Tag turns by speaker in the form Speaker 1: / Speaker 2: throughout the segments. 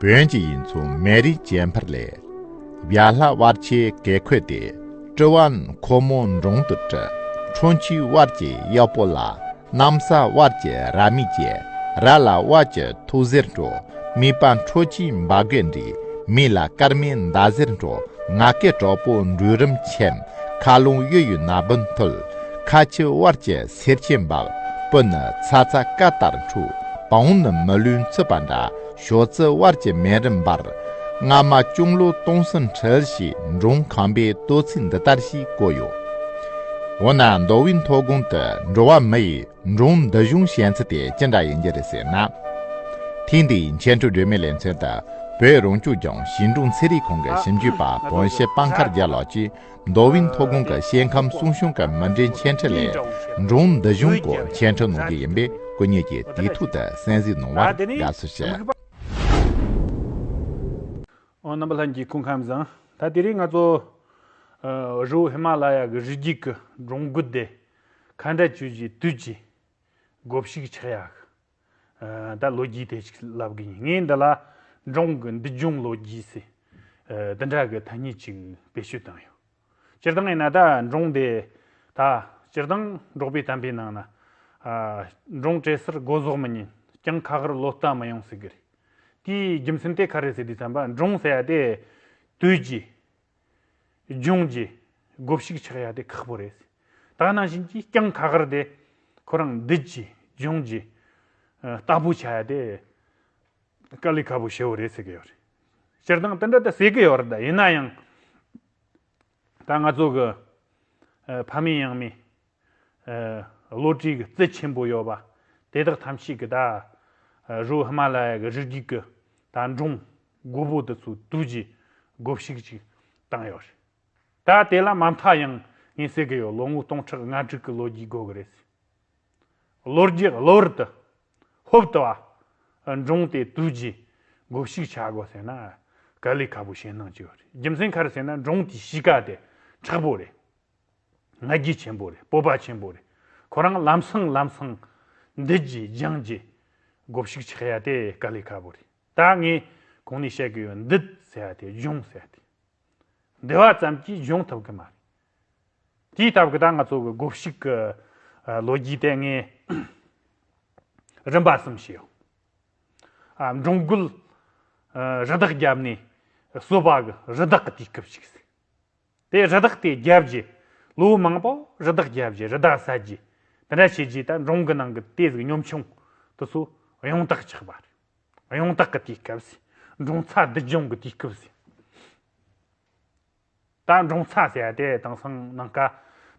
Speaker 1: བོན་གྱི་ཡིན་མཚུངས་མེད་རིགས་བྱེད་འཕར་ལས། བྱ་ལྷ་དབར་ཆའི་གེ་ཁོད་དེ་སྤྲུལ་བ་འཁོར་མོ་འབྲོང་དུ་བཀྲི། ཁྲོ་འཆུའི་དབར་གྱི་གཡོག་པོ་ལ་གནམ་ས་དབར་གྱི་ར་མི་བྱེད་ར་ལ་དབར་གྱི་ཐུགས་གཟེར་འགྲོ། མི་པ་འཕྲོ་ཆུའི་འབའ་རྒོད་འདྲི་མི་ལ་སྐར་མའི་མདའ་གཟེར་འགྲོ། ང་སྐད་གྲོགས་པོ་འབྲུག་རིམ་ཆེམས་མཁའ་རླུང་གཡོ་ཡུལ་ན་བུན་འཐུལ། ཁ་ཆུ་དབར་གྱི་སེར་ཆེན་འབབ་སྤུ་ནི་ཚ་ཚ་སྐ་ལྟར་འཁྲུག་བོང་ནི་མི་ལུས་འཚུད་པ་འདྲ། ཞོ་རྩི་དབལ་གྱི་སྨན་རིམ་འབར། སྔ་མ་ཅུང་ལོ་སྟོང་གསུམ་འཁྲིལ་ཞེས་མགྲོན་ཁང་པས་བསྟོད་ཚིག་འདི་ལྟར་ཞིག་བཀོད་ཡོད། འོ་ན་མདོ་དབུས་མཐོ་སྒང་དུ་འགྲོ་བ་མི་ཡིས་མགྲོན་འདི་གཞུང་བཤད་ཚུལ་དེ་ཅི་འདྲ་ཡིན་རྒྱུ་རེད་ཟེར་ན། ཐེངས་འདིའི་མཁན་སྤྲུལ་སྒྲོལ་མའི་ལས་མཚོན་དུ་བོད་རང་སྐྱོང་ལྗོངས་ཞིང་འབྲོག་ཚན་རིག་ཁང་གི་ཞིབ་འཇུག་པ་དགོངས་བཞེད་དཔའ་མཁར་རྒྱལ་ལགས་ཀྱིས། མདོ་དབྱིན་མཐོ་སྒང་གི་ཤེལ་ཁམས་སྲུང་གཞུང་གི་མི་འབྲེལ་མཆན་འཕྲིན་ལས་སྒྲུང་མདོ་གཞུང་སྐོར་མཆན་འཕྲིན་གནང་རྒྱུ་ཡིན་པས་སྐུ་ཉིད་ཀྱིས་དུས་ཐོག་ཏུ་གསན་གཟིགས་གནང་བར་དགའ་བསུ་ཞུ། ཨོ་
Speaker 2: རྣམ་པ་ལྷན་གྱི་སྐུ་ཁམས་བཟང། ད་དེ་རིང་ང་ཚོ། རི་བོ་ཧི་མ་ལ་ཡ་གི་རི་རྒྱུད་ཀྱི་སྒྲུང་དགུ་སྡེ། མཁའ་འགྲེལ་བཅུ་བཞིའི་དུས་ཀྱི། དགོ་བཤིག་ཆག་ཡག། ད་ལོ་རྒྱུས་དེ་ཞིག་ལབ་གི་ཡིན་ངས་འདི་ལ་འབྲོང་གི་འདི་ལྗོངས་ལོ་རྒྱུས་སི་འདི་འདྲ་གི་ཐ་སྙད་ཅིག་བེད་སྤྱོད་བཏང་ཡོད། སྤྱིར་བཏང་ཡིན་ན་ད་འབྲོང་དེ་ད་སྤྱིར་བཏང་འབྲོག་པའི་དམ་པའི་ནང་ན་འབྲོང་བྲེ་སར་སྒོ་ཟོག་མི་ཉན་ཀྱང་ཁ་ཁར་ལོ་རྟགས་མི་ཡོང་ཟེར་གི་རེད། དེའི་རྒྱུ་མཚན་དེ་ག་རེད་ཟེར་དུས་དམ་པ་འབྲོང་ཟེར་བ་དེ་དུས་ཀྱི་ལྗོངས་ཀྱི་སྒོ་ཕྱུགས་ཆགས་ཡ་དེ་ཁག་པོ་རེད། ད་ནང་བཞིན་གྱི་རྐྱང་ཁ་ཁར་དེ་ཁོ་རང་འདིད་ཀྱི་ལྗོངས་ཀྱི་རྟ་ཕོ་ཆགས་ཡ་དེ་དཀའ་ལས་ཁ་པོ་བྱེད་པོ་རེད་ཟེར་གྱི་ཡོད་རེད། སྤྱིར་བཏང་དེ་འདྲ་དེ་ཟེར་གྱི་ཡོད་རེད་ད་ཡིན་ན་ཡང་ད་ང་ཚོ་གི་ཕ་མེས་ཡང་མེས། བློ་གྲོས་ཀྱི་རྩལ་ཆེན་པོ་ཡོད་པ། དེ་དག་ཐམས་ཅད་ཀྱི་ད་རུ་ཧི་མ་ལ་ཡའི་རི་རྒྱུད་ཀྱི་ད་འབྲོང་རྒོད་པོ་དེ་ཚོའི་དུས་ཀྱི་རྒོད་བཤིག་ཅིག་བཏང་ཡོད་རེད། ད་དེ་ལ་མ་མཐའ་ཡང་ངས་ཟེར་གྱི་ཡོད་ལོ་ངོ་སྟོང་ཕྲག་ལྔ་དྲུག་གི་ལོ་རྒྱུས་དགོས་ཀྱི་རེད་ཟེར། ལོ་རྒྱུས་གློ་བུར་དུ་ཧོབ་ཏུ་བ། འབྲོང་དེ་དུས་ཀྱི་རྒོད་བཤིག་བྱ་དགོས་ཟེར་ན་དཀའ་ལས་ཁ་པོ་བྱེད་གནང་གྱི་ཡོད་རེད་རྒྱུ་མཚན་ག་རེ་ཟེར་ན་འབྲོང་དེའི་གཤིས་ཀ་དེ་མཁྲེགས་པོ་རེད། ང་རྒྱལ་ཆེན་པོ་རེད་སྤོབས་པ་ཆེན་པོ་རེད་ཁོ་རང་ལམ་སང་ལམ་སང་འདི་གྱིས་རྒྱང་གྱིས་གོ་བཤིག་ཆགས་ཡ་དེ་དཀའ་ལས་ཁ་པོ་རེད་ད་ངས་གོང་ནས་བཤད་གི་ཡོད་འདི་ཟེར་ཡ་དེ་སྦྱོང་ཟེར་ཡ་དེ་འདི་བ་ཙམ་གྱིས་སྦྱོང་ཐུབ་གི་མ་རེད་དེའི་སྟབས་ཀྱི་ད་ང་ཚོ་གི་གོ་བཤིག་གི་ལོ་རྒྱུས་དེ་ངས་རིམ་པ་གསུམ་བཤད་ཡོང་ཨ་འབྲོང་རྒོད་རི་དྭགས་རྒྱབ་ནས་གསོད་པ་གི་རི་དྭགས་གི་དུས་སྐབས་ཤིག་ཟེར། དེ་རི་དྭགས་དེ་བརྒྱབ་རྗེས་ལོ་མང་པོ་རི་དྭགས་བརྒྱབ་རྗེས་རི་དྭགས་ཟ་རྗེས་དེ་འདྲ་བྱས་རྗེས་ད་འབྲོང་གི་ནང་གི་དེ་ཟིག་གཉོམ་ཆུང་དུ་སུ་གཡང་དྭགས་ཆགས་པ་རེད་གཡང་དྭགས་ཀྱི་དུས་སྐབས་སུ་འབྲོང་ཚ་བདུད་རྒྱང་གི་དུས་སྐབས་སུ་ད་འབྲོང་ཚ་ཟས་དེ་དེང་སང་ནང་ཀ་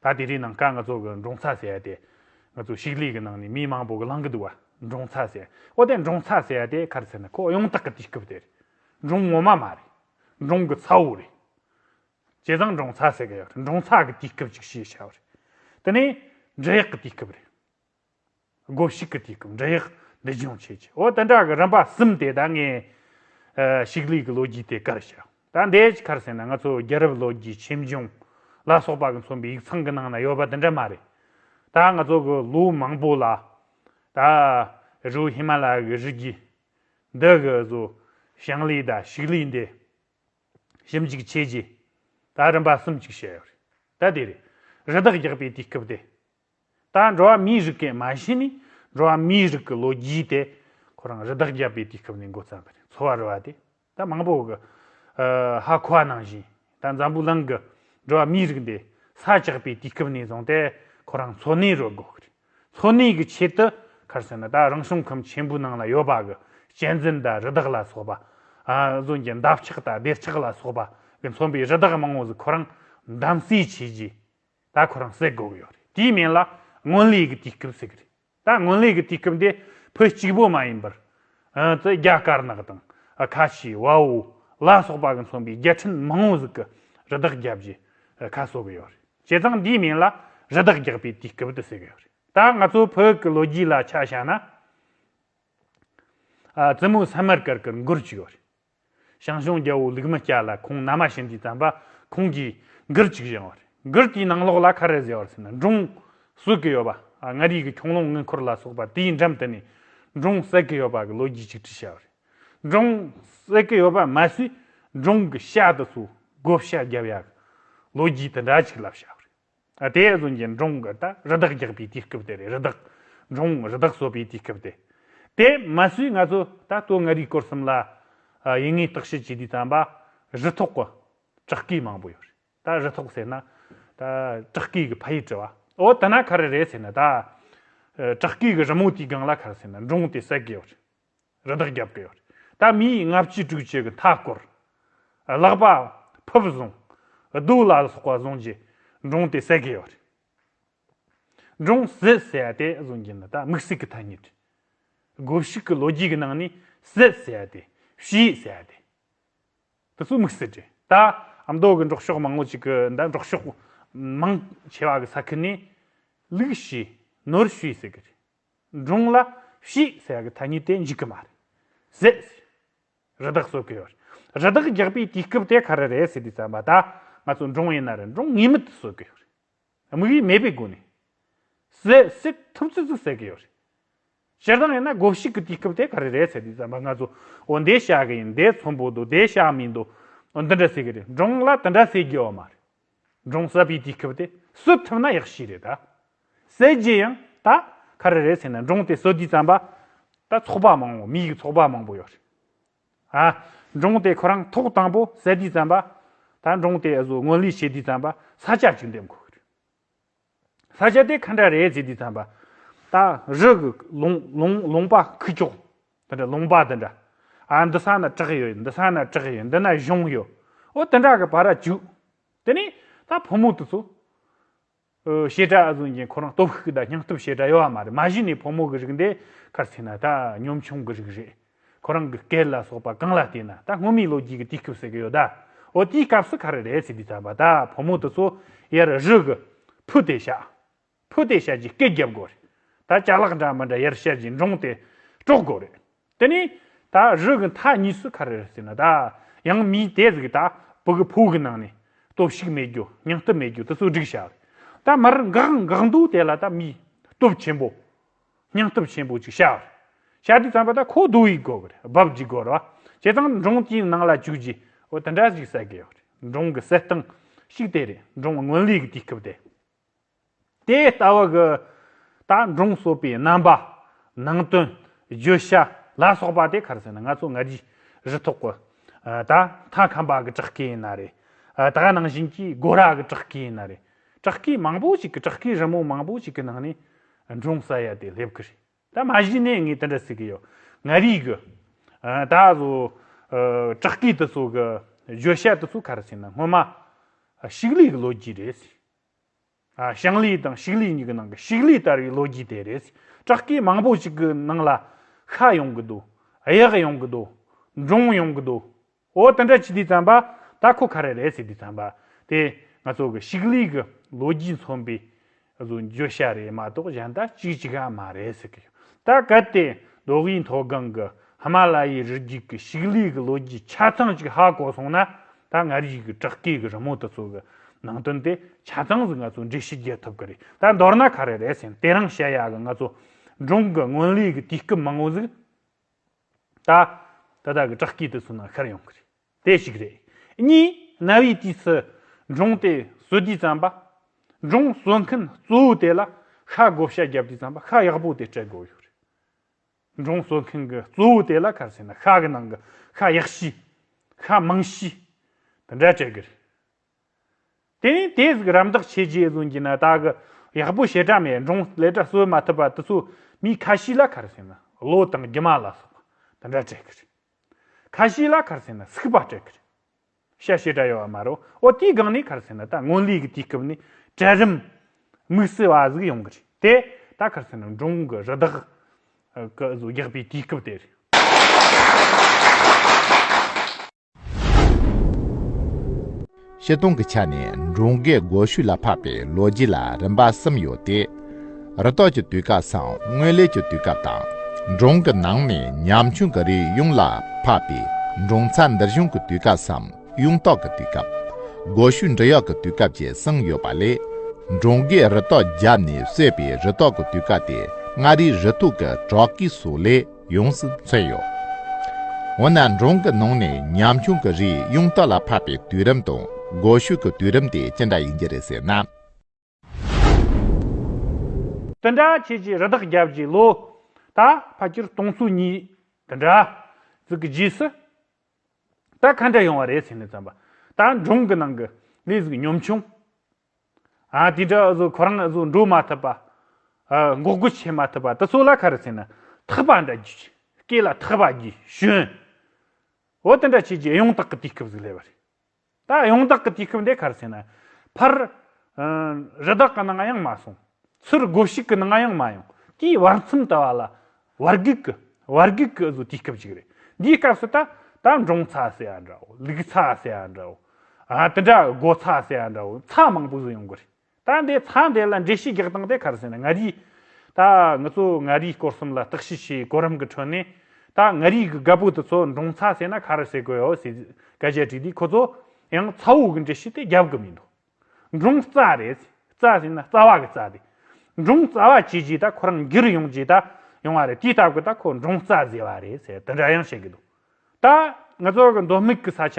Speaker 2: ད་དེ་རིང་ནང་ཀ་ང་ཚོ་གི་འབྲོང་ཚ་ཟས་དེ་ང་ཚོ་ཕྱུགས་ལས་ཀྱི་ནང་ནས་མི་མང་པོ་གི་ལང་གི་འདུག་བ་འབྲོང་ཚ་ཟས་ཨོ་དེ་འབྲོང་ཚ་ཟས་དེ་ག་རེ་ཟེར་ན་ཁོ་གཡང་དྭགས་ཀྱི་དུས་སྐབས་དེ་རེད་འབྲོང་ངོ་མ་མ་རེད་འབྲོང་གི་ཚ་བོ་རེད། བྱས་ཙང་འབྲོང་ཚ་ཟེར་གི་ཡོད་རེད་འབྲོང་ཚ་གི་དུས་སྐབས་ཅིག་ཞེས་བྱ་བ་རེད་དེ་ནི་འབྲི་གཡག་གི་དུས་སྐབས་རེད། སྒོ་ཕྱུགས་ཀྱི་དུས་སྐབས་འབྲི་གཡག་འདི་སྦྱོང་བྱེད་ཀྱི་འོ་དེ་འདྲ་གི་རིམ་པ་གསུམ་དེ་ད་ངའི། ཕྱུགས་ལུག་གི་ལོ་རྒྱུས་དེ་གར་བྱ་ད་འདའི་ཆི་ཁར་ཟེར་ན་ང་ཚོ་རྒྱལ་རབས་ལོ་རྒྱུས་ཆེམ་སྦྱོང་ལ་སོགས་པ་གི་མཚོན་པའི་ཡིག་ཚང་གི་ནང་ན་ཡོད་པ་དེ་འདྲ་མ་རེད། ད་ང་ཚོ་གི་ལོ་མང་པོ་ལ་ད་རུ་ཧི་མ་ལ་ཡའི་རི་རྒྱུད་འདི་གི་བཟོ་ཞིང་ལས་དང་ཕྱུགས་ལུག་འདི། ཞིབ་འཇུག་བྱས་རྗེས་ད་རིམ་པ་གསུམ་གཅིག་བྱས་ཡོད་རེད་ད་དེ་རེད། རི་དྭགས་རྒྱག་པའི་དུས་སྐབས་དེ་ད་འགྲོ་བ་མིའི་རིགས་ཀས་མ་ཤི་ནས་འགྲོ་བ་མིའི་རིགས་ཀྱི་ལོ་རྒྱུས་དེ་ཁོ་རང་རི་དྭགས་རྒྱག་པའི་དུས་སྐབས་ནས་འགོ་བརྩམས་པ་རེད་འཚོ་བ་རོལ་བ་དེ་ད་མང་པོ་གི་ཧ་གོ་བ་ནང་བཞིན་ད་འཛམ་བུ་གླིང་གི་འགྲོ་བ་མིའི་རིགས་འདི་ས་བཅག་པའི་དུས་སྐབས་ནས་བཟུང་སྟེ་ཁོ་རང་འཚོ་གནས་རོལ་དགོས་ཀྱི་རེད། ལྷོ་སྣེ་གི་ཆེད་དུ་ཁར་སོན་ན་ད་རང་བྱུང་ཁམས་ཆེན་པོའི་ནང་ལ་ཡོད་པ་གི་གཅན་གཟན་དང་རི་དྭགས་ལ་སོགས་པ། རྫོང་གི་འདབ་ཆགས་དང་སྡེར་ཆགས་ལ་སོགས་པ་གི་མཚོན་པའི་རི་དྭགས་མང་བོ་ཟིག་ཁོ་རང་འདམ་བསྲེས་བྱས་རྗེས་ད་ཁོ་རང་བསད་དགོས་གི་ཡོད་རེད་དེའི་མན་ལ་སྔོན་ལས་གི་དུས་སྐབས་ཟེར་གི་རེད་ད་སྔོན་ལས་གི་དུས་སྐབས་འདི་བོད་གཅིག་པོ་མ་ཡིན་པར། རྫ་རྒྱ་དཀར་ནག་དང་ཁ་ཆེ་དབའ་བོ་ལ་སོགས་པ་གི་མཚོན་པའི་རྒྱལ་ཕྲན་མང་བོ་ཟིག་གི་རི་དྭགས་བརྒྱབ་རྗེས་ཁ་གསོ་གི་ཡོད་རེད། བྱས་ཙང་འདིའི་མིང་ལ་རི་དྭགས་རྒྱག་པའི་དུས་སྐབས་དུ་ཟེར་གི་ཡོད་རེད། ད་ང་ཚོ་བོད་ཀྱི་ལོ་རྒྱུས་ལ་ཆ་བཞག་ན། བཙུན་མོ་སན་མར་ཀར་ཀར་མགུར་གཅིག་ཡོད་རེད། ཞང་ཞུང་རྒྱལ་པོ་ལུག་མི་སྐྱ་ལ་ཁོང་མནའ་མ་བྱེད་འདིའི་བརྩམས་པ་ཁོང་གིས་མགུར་གཅིག་བཞེངས་བ་རེད། མགུར་དེའི་ནང་ལོགས་ལ་ཁ་རལ་ཟེར་བར་ཟེར་ན་འབྲོང་གསོད་ཀྱི་ཡོད་པ། མངའ་རིས་ཀྱི་ཁྱུང་ལུང་དངུལ་འཁོར་ལ་སོགས་པ་དེའི་འགྲམ་དུ་ནས་འབྲོང་བསད་ཀྱི་ཡོད་པ་གི་ལོ་རྒྱུས་གཅིག་བྲིས་བྱས་བ་རེད། སྒྲུང། སྲིད་གི་ཡོད་པ་མ་ཟད་སྒྲུང་གི་ཤ་དུ་སོགས་བགོ་བཤའ་བརྒྱབ་ཡ་གི་ལོ་རྒྱུས་དེ་འདྲ་ཞིག་ལབ་བྱ་བ་རེད། དེ་བཟོ་མཁན་སྒྲུང་གི་ད་རི་དྭགས་རྒྱག་པའི་དུས་སྐབས་དེ་རེད་རི་དྭགས། སྒྲུང་རི་དྭགས་གསོད་པའི་དུས་སྐབས་དེ། དེ་མ་ཟོས་ང་ཚོ་ད་སྟོད་མངའ་རིས་སྐོར་གསུམ་ལ་ཡིན་ངེས་བརྟག་དཔྱད་བྱེད་དུས་བསམ་པ་རི་ཐོག་གི་བྲག་སྐས་མང་པོ་ཡོད་རེད་ད་རི་ཐོག་ཟེར་ན། ད་བྲག་སྐས་གི་ཕ་ཡུལ་དྲི་བ་འོ་དེ་ན་ག་རེ་རེད་ཟེར་ན་ད། བྲག་སྐས་གི་རི་མོ་དེའི་སྒང་ལ་ག་རེ་ཟེར་ན་སྒྲུང་དེ་སྲིད་གི་ཡོད་རེད། རི་དྭགས་རྒྱབ་ཀྱི་ཡོད། ད་མི་ཡིས་ལྔ་བཅུ་དྲུག་བཅུ་གི་མཐའ་བསྐོར། ལག་པ། ཕུབ་བཟུང། རྡོའུ་ལ་ལ་སོགས་པ་བཟུང་རྗེས་འབྲོང་དེ་བསད་ཀྱི་ཡོད། འབྲོང་བཟི་བསད་དེ་བཟུང་རྒྱུ་ནི་ད་དམིགས་བསལ་གྱི་ཐ་སྙད་རེད། སྒོ་ཕྱུགས་ཀྱི་ལོ་རྒྱུས་ཀྱི་ནང་ནས་བཟི་བསད་དེ་བྱི་ཡིས་བསད་དེ། དེ་ཚོ་དམིགས་བསལ་རེད། ད་མདོ་གི་འབྲོག་ཕྱོགས་མང་བོ་ཅིག་གི་ད་འབྲོག་ཕྱོགས་མང་ཆེ་བ་གི་ས་ཁུལ་ནས་ལུག་བྱི་ནོར་བྱི་ཡིས་བསད་ཀྱི་རེད། སྒྲུང་ལ་བྱིས་ཟེར་བའི་ཐ་སྙད་དེ་འཇིག་གི་མ་རེད། ཟེར། རི་དྭགས་གསོད་གི་ཡོད་རེད། རི་དྭགས་རྒྱག་པའི་དུས་སྐབས་དེ་ག་རེ་རེད་ཟེར་དུས་བསམ་པ་ད་ང་ཚོ་སྒྲུང་ཡིན་ན་རེད་སྒྲུང་ངེས་མེད་དུ་གསོད་གི་ཡོད་རེད། དམིགས་ཡུལ་མེད་པའི་སྒོ་ནས། ཟེར། སྲིད་ཐུབ་ཚུལ་ཙིག་ཟེར་གི་ཡོད་རེད། སྤྱིར་བཏང་ཡིན་ན་དགོ་བཤིག་གི་དུས་སྐབས་དེ་ག་རེ་རེད་ཟེར་དུས་བསམ་པ་ང་ཚོ་འོ་འདི་བཤག་གི་ཡིན་འདི་ཚོམ་བུ་འདུག་འདི་བཤག་མིན་འདུག་འོ་འདི་འདྲ་ཟེར་གི་རེད་སྒྲུང་ལ་དེ་འདྲ་ཟེར་དགོས་བ་མ་རེད། འབྲོང་ཟ་བའི་དུས་སྐབས་དེ་སུ་ཐུབ་ན་ཡག་ཤོས་རེད་ད། ཟས་རྗེས་ཡང་ད་ག་རེ་རེད་ཟེར་ན་འབྲོང་དེ་སོ་དུས་རྩམ་པ་ད་ཚོགས་པ་མང་བོ་མི་ཡི་ཚོགས་པ་མང་བོ་ཡོད་རེད། ཨ། འབྲོང་དེ་ཁོ་རང་ཐོག་དང་པོ་ཟ་དུས་རྩམ་པ་ད་འབྲོང་དེ་ཨ་བཟོ་དངོས་ལས་བྱེད་དུས་རྩམ་པ་ས་ཆ་ཅིག་འདེམས་དགོས་ཀྱི་རེད། ས་སྐྱ་དེ་ཁ་འདྲ་རེད་ཟེར་དུས་ཚངས་པ། ད། རི། ལུང། ལུང། ལུང་པ། ཁུ་བྱུག། དེ་འདྲ་ལུང་པ་དེ་འདྲ། ཨ་འདི་ས་ན་བྲག་ཡོད་འདི་ས་ན་བྲག་ཡོད་འདི་ན་གཞུང་ཡོད། ཨོ་དེ་འདྲ་གི་བར་ར་བྱུག། དེ་ནས། ད་བུ་མོ་དེ་ཚོ། བཤད་གྲྭ་ཨ་ཟུང་གིས་ཁོ་རང་སྟོབས་ཤུགས་དང་སྙིང་སྟོབས་བཤད་གྲྭ་ཡོད་བ་མ་རེད་མ་གཞི་ནས་བུ་མོ་གི་རིགས་འདི་ཁར་ཚིག་ན་ད་ཉོམ་ཆུང་གི་རིགས་རེད། ཁོ་རང་གི་སྐད་ལ་སོགས་པ་གང་ལ་བལྟས་ན་ད་སྔོན་མའི་ལོ་རྒྱུས་ཀྱི་དུས་སྐབས་ཟེར་གི་ཡོད་ད། འོ་དེའི་སྐབས་སུ་ག་རེ་རེད་ཟེར་དུས་ད་བ་ད་ཕོ་མོ་དེ་ཚོ་ཡར་བཞུགས་གི། ཕུ་དེ་བཤགས། ཕུ་དེ་བཤགས་ཀྱིས་སྐད་བརྒྱབ་དགོས་རེད། ད་ལྕགས་ལག་འདྲ་མི་འདྲ་ཡར་བཤགས་ཀྱིས་འབྲོང་དེ་དཀྲོག་དགོས་རེད། དེ་ནས་ད་བཞུགས་གི་མཐའ་གཉིས་སུ་ག་རེ་རེད་ཟེར་ན་ད། ཡང་མིའི་དད་གཟུགས་ད་བུ་གི་ཕུ་གི་ནང་ནས་སྟོབས་ཤུགས་མེད་རྒྱུ་སྙིང་སྟོབས་མེད་རྒྱུ་དེ་ཚོ་སྒྲིག་བཞག་རེད། ད་མར་འགག་འགག་འདུག་དེ་ལ་ད་མིའི་སྟོབས་ཆེན་པོ། སྙིང་སྟོབས་ཆེན་པོ་ཅིག་བྱའོ། ཤ་དུས་ཚངས་པ་དག་ཁོག་རྡོ་ཡིས་བསྒོ་བར་རྦབ་ཀྱིས་བསྒོ་རོ། བྱས་ཙང་འབྲོང་རྐྱེན་ནང་ལ་བཅུག་རྗེས་འོ་དེ་འདྲ་ཞིག་བསད་དགོས་ཡོད། འབྲོང་གི་བསད་སྟངས་ཤིག་དེ་རེད་འབྲོང་རྔོན་ལས་ཀྱི་དུས་སྐབས་དེ། དེའི་ལྟ་བ་གི་ད་འབྲོང་གསོད་པའི་རྣམ་པ། ནང་དོན། བརྗོད་བྱ་ལ་སོགས་པ་དེ་གར་ཟེར་ན་ང་ཚོ་སྔ་རྗེས་རི་ཐོག་གི། ད་མཐའ་ཁམས་པ་གི་བྲག་སྐས་ན་རེད། ད་ནང་བཞིན་གྱི་སྒོ་ར་གི་བྲག་སྐས་ན་རེད། བྲག་སྐས་མང་པོ་ཞིག་གི་བྲག་སྐས་རི་མོ་མང་པོ་ཞིག་གི་ནང་ནས། འབྲོང་ས་ཡ་དེ་སླེབས་ཀྱི་རེད་ད་མ་གཞི་ནས་ངས་དེ་འདྲ་ཟེར་གྱི་ཡོད་ང་རིག་གི། ད་གཟོ། བྲག་སྐད་དུ་སོགས་ཀྱི་བརྗོད་བྱ་དེ་ཚོ་ག་རེ་བྱས་ན་སྔོན་མ། ཤིག་ལས་ཀྱི་ལོ་རྒྱུས་རེད་ཟེར། ཞང་ལས་དང་ཤིག་ལས་གཉིས་ཀྱི་ནང་གི་ཤིག་ལས་ལྟར་བའི་ལོ་རྒྱུས་དེ་རེད་ཟེར། བྲག་སྐད་མང་པོ་ཞིག་གི་ནང་ལ། ཤ་ཡོང་གི་འདུག་གཡག་ཡོང་གི་འདུག་འབྲོང་ཡོང་གི་འདུག་ཨོ་ད་འདྲ་ཅི་དེ་བརྩམས་པ་ད་ཁོ་ག་རེ་རེད་ཟེར་དེ་བརྩམས་པ་དེ་ང་ཚོ་གི་ཤིག་ལིས་གི་ལོ་རྒྱུས་མཚོན་པའི་བརྗོད་བྱ་རེད་མ་གཏོགས་གཞན་དག་ཅིག་ཅིག་ག་མ་རེད་ཟེར་གི་ཡོད་ད་གལ་ཏེ་མདོ་དབུས་མཐོ་སྒང་གི་ཧི་མ་ལ་ཡའི་རི་རྒྱུད་ཀྱི་ཤིག་ལིས་
Speaker 1: གི་ལོ་རྒྱུས་ཆ་ཚང་ཅིག་ཧ་གོ་སོང་ན་ད་སྔར་ཡོད་ཀྱི་བྲག་སྐས་ཀྱི་རི་མོ་དེ་ཚོ་གི་ནང་དོན་དེ་ཆ་ཚང་ཟིག་ང་ཚོ་འགྲེལ་བཤད་རྒྱག་ཐུབ་གི་རེད་ད་མདོར་ན་ག་རེ་རེད་ཟེར་ན་དེ་རང་བཤད་ཡག་གི་ང་ཚོ་སྒྲུང་གི་སྔོན་ལུས་ཀྱི་དུས་སྐབས་མང་བོ་ཟིག་ད། དེ་དག་གི་བྲག་དཀྱིལ་དུ་སོང་ན་ཤར་ཡོང་གི་རེད། དེ་ཞིག་རེད། གཉིས། གནའ་བོའི་དུས་སུ། འབྲོང་དེས་གསོད་དུས་རྩམ་པ། འབྲོང་གསོད་མཁན་གཙོ་བོ་དེ་ལ། ཤ་བགོ་བཤའ་བརྒྱབ་དུས་རྩམ་པ་ཤ་ཡག་པོ་དེ་སྤྲད་དགོས་ཡོད་རེད། འབྲོང་གསོད་མཁན་གྱི་གཙོ་བོ་དེ་ལ་ཁ་བཤད་ན་ཤ་གི་ནང་གི་ཤ་ཡག་ཤོས། ཤ་མང་ཤོས། དེ་འདྲ་སྤྲད་གི་རེད། དེ་ནས་དེས་གི་རམ་འདེགས་བྱས་རྗེས་གཟུང་རྒྱུ་ན་བདག་གི་ཡག་པོ་བྱེད་གྲ་མེད་འབྲོང་ལས་གྲ་གསོད་མ་ཐུབ་པ་དེ་ཚོ་མི་ཁ་ཤི་ལ་ཁར་སེ་ན་ལོ་དང་རྒྱུ་མ་ལ་སོགས་པ་དེ་འདྲ་སྤྲད་གི་རེད། ཁ་ཤི་ལ་ཁར་སེ་ན་སུག་པ་སྤྲད་གི་རེད། ཤ་ཤེད་གྲ་ཡོད་བ་མ་རོ་འོ་དེའི་སྒང་ནས་ཁར་སེ་ན་ད་སྔོན་ལས་གི་དུས་སྐབས་ནས་གྲལ་རིམ་དམིགས་བསལ་བ་ཟིག་ཡོང་གི་རེད་དེ་ད་ཁར་སེ་ན་འབྲོང་གི་རི་དྭགས་གི་གཟུགས་རྒྱག་པའི་དུས་སྐབས་དེ་རེད། ཤེས་སྟོང་གི་ཆ་ནས་འབྲོང་རྒས་སྒོ་ཤུད་ལ་འཕགས་པའི་ལོ་རྒྱུས་ལ་རིམ་པ་གསུམ་ཡོད་དེ། རི་དྭགས་ཀྱི་དུས་སྐབས་སམ་སྔོན་ལས་ཀྱི་དུས་སྐབས་དང། འབྲོང་གི་ནང་ནས་ཉམ་ཆུང་གི་རིགས་གཡུང་ལ་འཕགས་པའི་འབྲོང་ཚ་འདིར་བྱུང་གི་དུས་སྐབས་སམ་གཡུང་རྟོག་གི་དུས་སྐབས། སྒོ་ཤུད་འབྲི་གཡག་གི་དུས་སྐབས་བཅས་གསུམ་ཡོད་པ་ལས། འབྲོང་རྒས་རི་དྭགས་རྒྱབ་ནས་གསོས་པའི་རི་དྭགས་ཀྱི་དུས་སྐབས་དེ་མངའ་རིས་རི་ཐུག་གི་བྲག་གི་སོ་ལས། ཡོངས་སུ་ཚོལ་ཡོད། འོ་ན་འབྲོང་གི་ནང་ནས་ཉམ་ཆུང་གི་རིགས་གཡུང་དྭགས་ལ་འཕགས་པའི་དུས་རིམ་དང་སྒོ་ཕྱུགས་ཀྱི་དུས་རིམ་དེ་ཅི་འདྲ་ཡིན་གྱི་རེད་ཟེར་ན།
Speaker 2: དེ་འདྲ་ཁྱེད་ཀྱིས་རི་དྭགས་བརྒྱ་བརྒྱའི་ལོ། ད་ཕ་ཁྱེར་སྟོང་ཚོ་གཉིས་དེ་འདྲ་ཟིག་གི་རྗེས་སུ། ད་ག་འདྲ་ཡོང་བ་རེད་ཟེར་ནས་བརྩམས་པ། ད་འབྲོང་གི་ནང་གི་ལས་ཟིག་ཉམ་ཆུང། དེ་འདྲ་ཨ་ཟོ་ཁོ་རང་ཨ་ཟོ་འགྲོ་མ་ཐུབ་པ། འགོག་རྒོལ་བྱེད་མ་ཐུབ་པ་དེ་ཚོ་ལ་ཁ་རུ་ཚིག་ན་ཐག་པ་འདྲ་རྒྱུ། སྐེ་ལ་ཐག་པ་རྒྱུ་ཞོན། འོ་དེ་འདྲ་བྱས་རྗེས་ཡོངས་གྲགས་ཀྱི་དུས་སྐབས་ཟིག་སླེབས་པ་རེད། ད་ཡོངས་གྲགས་ཀྱི་དུས་སྐབས་འདི་ཁ་རུ་ཚིག་ན། ཕར། རི་དྭགས་ཀྱི་ནང་ཡང་མ་སོང། ཚུར་སྒོ་ཕྱུགས་ཀྱི་ནང་ཡང་མ་ཡོང། དེའི་བར་མཚམས་དུ་བ་ལ། བར་བརྒལ་གི་བར་བརྒལ་གི་ཟོ་དུས་སྐབས་ཤིག་རེད། འདིའི་སྐབས་སུ་ད་ད་འབྲོང་ཚ་ཟེར་བ་འདྲ་བོ་ལུག་ཚ་ཟེར་བ་འདྲ་བོ། དེ་འདྲ་སྒོ་ཚ་ཟེར་བ་འདྲ་བོ་ཚ་མང་པོ་ཟོས་ཡོང་གི་རེད། ད་འདི་ཚ་འདི་ལ་འགྲེལ་བཤད་རྒྱག་སྟངས་དེ་ག་རེ་ཟེར་ན་ང་རིས་ད་ངུ་ཚོ་ང་རིས་སྐོར་གསུམ་ལ་བརྟག་དཔྱད་བྱས་གོ་རིམ་གི་ཁྲོད་ནས་ད་ང་རིས་གི་ག་བུ་དེ་ཚོ་འབྲོང་ཚ་ཟེར་ན་ག་རེ་ཟེར་གི་ཡོད་ཟེར་སྐད་ཆ་དྲིས་དུས་ཁོ་ཚོ་ཡང་ཚ་བོ་གི་འགྲེལ་བཤད་དེ་རྒྱབ་གི་མི་འདུག། འབྲོང་རྩ་རེད། རྩ་ཟེར་ན་རྩ་བ་གི་རྩ་སྟེ། འབྲོང་རྩ་བ་བྱས་རྗེས་ད་ཁོ་རང་འགྱུར་ཡོང་རྗེས་ད་ཡོང་བ་རེད་དེ་ལྟ་བུ་ད་ཁོ་འབྲོང་རྩ་ཟེར་བ་རེད་ཟེར་དེ་འདྲ་ཡང་བཤད་ཀྱི་འདུག་ད། ང་ཚོ་གི་མདོ་སྨིག་གི་ས་ཆ་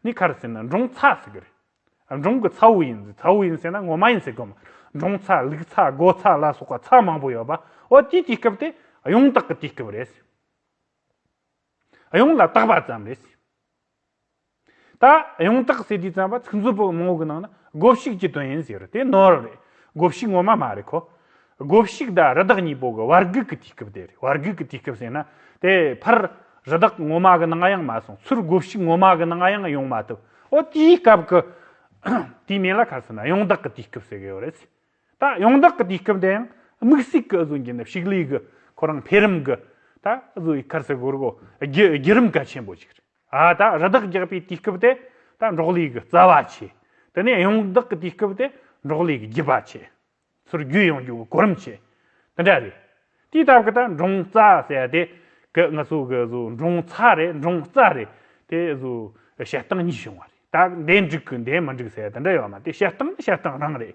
Speaker 2: ནི་ཁར་ཟེར་ན་འབྲོང་ཚ་ཟེར་གྱི་རེད། འབྲོང་གི་ཚ་བོ་ཡིན་ཟེར་ཚ་བོ་ཡིན་ཟེར་ན་ངོ་མ་ཡིན་ཟེར་གི་མ་རེད། འབྲོང་ཚ་ལུག་ཚ་སྒོ་ཚ་ལ་སོགས་པ་ཚ་མང་པོ་ཡོད་པ་འོ་དེའི་དུས་སྐབས་དེ་གཡུང་དྭགས་ཀྱི་དུས་སྐབས་རེད། གཡུང་ལ་དྭགས་པ་ཙམ་རེད། ད་ཡང་དག་སེ་དུས་བརྩམས་པ་ཚིག་མཛོད་པོད་མང་བོ་གི་ནང་ན་སྒོ་བཤིག་ཀྱི་དོན་ཡིན་ཟེར་དེ་ནོར་རེད། སྒོ་བཤིག་ངོ་མ་མ་རེད་ཁོ། སྒོ་བཤིག་དང་རི་དྭགས་གཉིས་པོ་གི་བར་གུག་གི་དུས་སྐབས་དེ་རེད་བར་གུག་གི་དུས་སྐབས་ཟེར་ན། དེ་ཕར། རི་དྭགས་ངོ་མ་གི་ནང་ཡང་མ་སོང་ཚུར་སྒོ་བཤིག་ངོ་མ་གི་ནང་ཡང་ཡོང་མ་ཐུབ། འོ་དེའི་སྐབས་ཀྱི། དུས་མིན་ལ་ཁ་སང་ན་ཡང་དག་གི་དུས་སྐབས་ཟེར་གི་ཡོད་རེད། ད་ཡང་དག་གི་དུས་སྐབས་དེ་ཡང། དམིགས་སུས་ཀྱི་བཟོ་རྒྱུ་ནི་བཤིག་ལས་གི། ཁོ་རང་འཕེལ་རིམ་གྱི། ད་བཟོ་བའི་ཁར་སེ་གོར་གོ། བརྒྱུད་རིམ་གལ་ཆེན་པོ་ཞིག་རེད། ཨ་ད་རི་དྭགས་རྒྱག་པའི་དུས་སྐབས་དེ་ད་འབྲོག་ལས་ཀྱི་རྩ་བ་ཆེ། དེ་ནས་གཡང་བདག་གི་དུས་སྐབས་དེ་འབྲོག་ལས་ཀྱི་རྒྱུད་པ་ཆེ། ཚུར་རྒྱུད་ཡོང་རྒྱུ་གི་གོ་རིམ་ཆེ། དེ་འདྲ་རེད། དུས་རྟག་གི་ད་འབྲོང་རྩ་ཟེར་དེ། གི་ང་ཚོ་གི་བཟོ་འབྲོང་ཚ་རེད་འབྲོང་རྩ་རེད། དེ་བཟོ་བྱེད་སྟངས་གཉིས་བྱུང་བ་རེད། ད་འདས་འགྲིག་གི་འདས་མི་འགྲིག་ཟེར་དེ་འདྲ་ཡོད་མ་དེ་བྱེད་སྟངས་ནི་བྱེད་སྟངས་རང་རེད།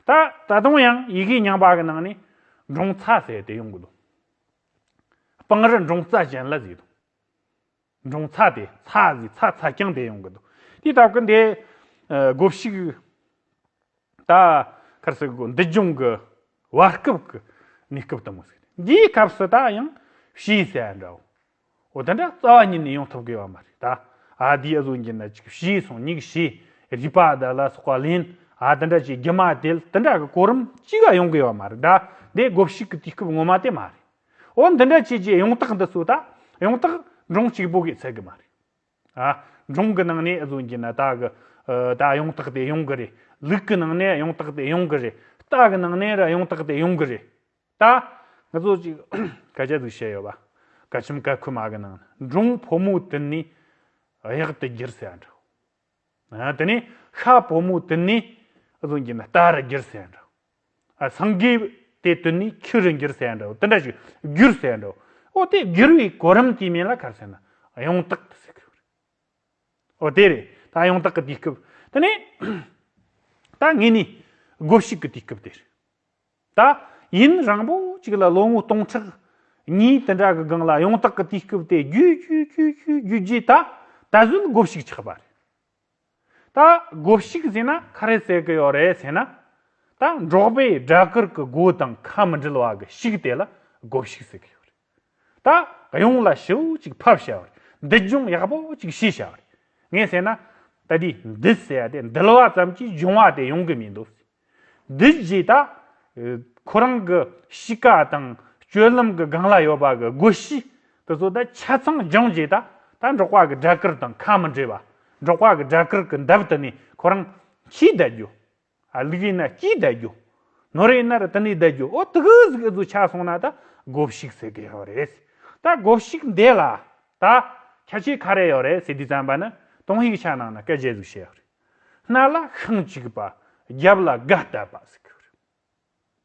Speaker 2: ད་ད་དུང་ཡང་ཡི་གེ་རྙིང་པ་གི་ནང་ནས་འབྲོང་ཚ་ཟེར་དེ་ཡོང་གི་འདུག་སྤང་རི་འབྲོང་རྩ་ཅན་ལ་ཟེར་དུ། འབྲོང་ཚ་དེ་ཚ་ཟིག་ཚ་ཚ་རྐྱང་དེ་ཡོང་གི་འདུག་དེའི་སྟབས་ཀྱིས་འདི་སྒོ་ཕྱུགས་ད་གར་སི་འདི་ལྗོངས་ཀྱི་བར་སྐབས་ཀྱི་གནས་སྐབས་དང་པོ་ཟེར་ནས་འདིའི་སྐབས་སུ་ད་ཡང་ཕྱིའི་ས་ཡ་འདྲ་བོ་དེ་འདྲ་རྩ་བ་ཉིད་ནས་ཡོང་ཐུབ་གི་ཡོད་མ་རེད་ད་ཨ་དེའི་གཟུགས་འགྱུར་ན་ཅིག་ཕྱིའི་སོང་ཉིག་ཕྱིའི་རུས་པ་དེ་ལ་སོགས་པ་ལན་ཨ་དེ་འདྲ་ཅིག་རྒྱུ་མ་དེ་དེ་འདྲ་གི་གོ་རིམ་ཅིག་ཡོང་གི་ཡོད་མ་རེད་ད་འདི་སྒོ་ཕྱུགས་ཀྱི་དུས་སྐབས་ངོ་མ་དེ་མ་རེད། འོ་འདི་འདྲ་བྱས་ཀྱི་ཡོང་རྟགས་འདི་ཚོ་ད་ཡོང་རྟགས་འབྲོང་གཅིག་པོ་གིས་འཚལ་གི་མ་རེད། ཨ། འབྲོང་གི་ནང་ནས་བཟོ་གྱི་ན་ད་གི་ད་ཡོང་རྟགས་དེ་ཡོང་གི་རེད། ལུག་གི་ནང་ནས་ཡོང་རྟགས་དེ་ཡོང་གི་རེད། རྟ་གི་ནང་ནས་ར་ཡོང་རྟགས་དེ་ཡོང་གི་རེད། ད། ང་ཚོ་གཅིག་སྐད་ཆ་ཟིག་བཤད་ཡོད་པ། སྐད་ཆུམ་སྐད་ཁུ་མ་གི་ནང་ན་འབྲོང་ཕོ་མོ་དེ་ནི་གཡག་དེ་སྒྱིར་ཟེར་ཡ་འདྲ། དེ་ནས་ཤ་བོ་མོ་དེ་ནི་གཟུངས་ཀྱི་རྟ་རུ་འགྱུར་ཟེར་འདྲའོ། སངས་རྒྱས་དེ་དེ་ནི་ཁྱི་རུ་འགྱུར་ཟེར་འདྲའོ་དེ་འདྲ་ཞིག་འགྱུར་ཟེར་འདྲའོ། འོ་དེ་འགྱུར་བའི་གོ་རིམ་གྱི་མན་ལ་གར་ཟེར་ན་ཡང་དག་ཏུ་གསལ་བར་འོ་དེ་རེད་ད་ཡང་དག་གི་དུས་སྐབས་དེ་ནས་ད་ངེད་ནི་སྒོ་ཕྱུགས་ཀྱི་དུས་སྐབས་དེ་རེད། ད། ཡིན་རང་བོ་གཅིག་ལ་ལོ་ངོ་སྟོང་ཕྲག། གཉིས་དེ་འདྲ་གི་སྒང་ལ་ཡོངས་དག་གི་དུས་སྐབས་དེ་རྒྱུད་རྒྱུད་རྒྱུད་རྒྱུད་རྒྱུད་རྗེས་ད། ད་གཟོད་སྒོ་བཤིག་ཆགས་པ་རེད། ད། སྒོ་བཤིག་ཟེར་ན་ཁ་རས་བསལ་གི་ཡོད་རེད་ཟེར་ན། ད། འབྲོག་པའི་སྦྲ་གུར་གི་སྒོ་དང་ཁ་མི་འབྲེལ་བ་གི་བཤིག་དེ་ལ་སྒོ་བཤིག་ཟེར་གི་ཡོད་རེད། ད་གཡུང་ལ་ཤིའུ་ཅིག་ཕབ་བྱ་བར་འདི་སྦྱོང་ཡག་པོ་ཅིག་ཤེས་བྱ་བར་ངས་ཟེར་ན། ད་དུས་འདི་ཟེར་བ་དེ་འདུལ་བ་ཙམ་གྱིས་སྦྱོང་བ་དེ་ཡོང་གི་མི་འདུག། འདུལ་རྗེས་ད། ཁོ་རང་གི་གཤིས་ཀ་དང་སྤྱོད་ལམ་གྱི་སྒང་ལ་ཡོད་པ་གྱི་སྒོ་དབྱེ་དེ་ཚོ་ད་ཆ་ཚང་སྦྱངས་རྗེས་ད་ད་འབྲོག་པ་གྱི་སྦྲ་གུར་དང་ཁ་མི་འབྲལ་བ། འབྲོག་པ་གྱི་སྦྲ་གུར་གྱི་འདབས་དེ་ནས་ཁོ་རང་ཤི་བསྡད་རྒྱུ། ཨ་ལིག་ཡིན་ན་སྐྱིད་བསྡད་རྒྱུ། ནོར་ཡིན་ན་རི་ཏི་ནས་བསྡད་རྒྱུ་ཨོ་ཏི་གིས་གི་ཟུ་ཆག་སོང་ན་ད་གོ་བཤིག་ཟེར་གི་ཡོད་རེད། ད་གོ་བཤིག་འདས་ལ། ད། ཁྱད་ཆོས་ག་རེ་ཡོད་རེད་ཟེར་དུས་བརྩམས་པ་ནི་དོང་ཡིག་ཆ་ནང་ན་སྐད་བརྗེ་ཟུག་བྱས་ཡོད་རེད། སྣ་ལ་ཤིང་གཅིག་པ། རྒྱབ་ལ་སྒ་བཏབ་པ་ཟེར་གི་ཡོད་རེད།